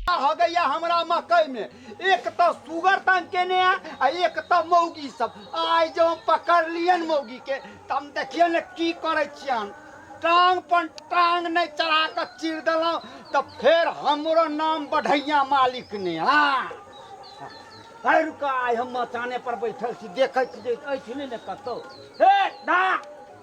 हो गया हमरा मकई में एक तो सुगर तंग केने है आ एक तो मौगी सब आइ जो हम पकड़ लियन मौगी के तब हम देखिए ने की करे छियन टांग पर टांग नहीं चढ़ा के चीर देलहुँ तो फिर हमरो नाम बढ़ैया मालिक ने हाँ है रुका आइ हम मचाने पर बैठल छी देखै छी जे अछि नहि ने कतौ हे दा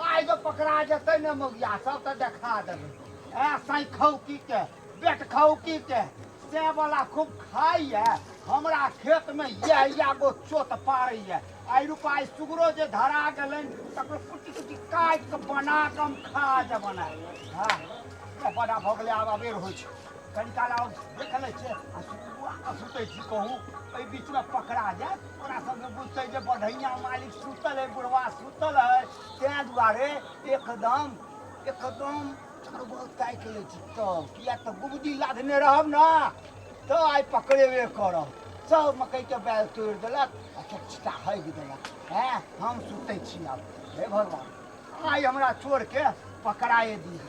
आइ जे पकड़ा जेतै ने मौगिया सब तऽ देखा देबै ए सैखौकी के बेटखौकी के से वाला खूब खाइए हमरा खेतमे इएह इएह गो चोत पारैए आइ रुपाइ सुगरो जे धरा गेलनि तकरो कुटी कुटी काटि कऽ बना कऽ हम खा जबन हँ बड़ा भऽ गेलै आब अबेर होइ छै कनिकाला सुनबे करै छै आ सुनबो आ सुतै छी कहू एहि बीचमे पकड़ा जायत ओकरा सबके बुझतै जे बढ़ैया मालिक सुतल है बुढ़वा सुतल है ताहि दुआरे एकदम एकदम चरबल ताकि लै छी तब किया तऽ गुबदी लादने रहब ने तऽ आइ पकड़ेबे करब सब मकइके बैल तोड़ि देलक आ चटचिटा हगि देलक हैं हम सुतै छी आब हे भगवान आइ हमरा चोरके पकड़ाए दिअ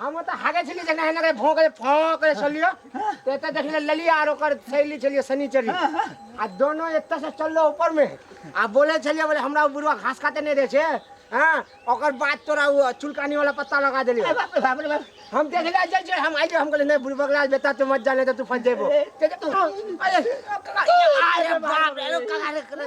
हम तऽ हागे छलियै जेना एना के भौंक फौंक के छलियै तऽ एतऽ देखले ललिया आर ओकर थैली छलियै शनिचरी आ दोनों एतऽ से चललो ऊपर में आ बोले छलियै बोले हमरा उ बुढ़वा घास काटे नहीं दे छे हाँ ओकर बाद तोरा उ चुलकानी वाला पत्ता लगा देलियो अरे बाप रे बाप रे बाप हम देखले जाइ छै हम आइले हम कहले नहीं बुढ़वा के लाल बेटा तू मत जाने तऽ तू फंस जेबो ते तू अरे अरे बाप रे अरे कका रे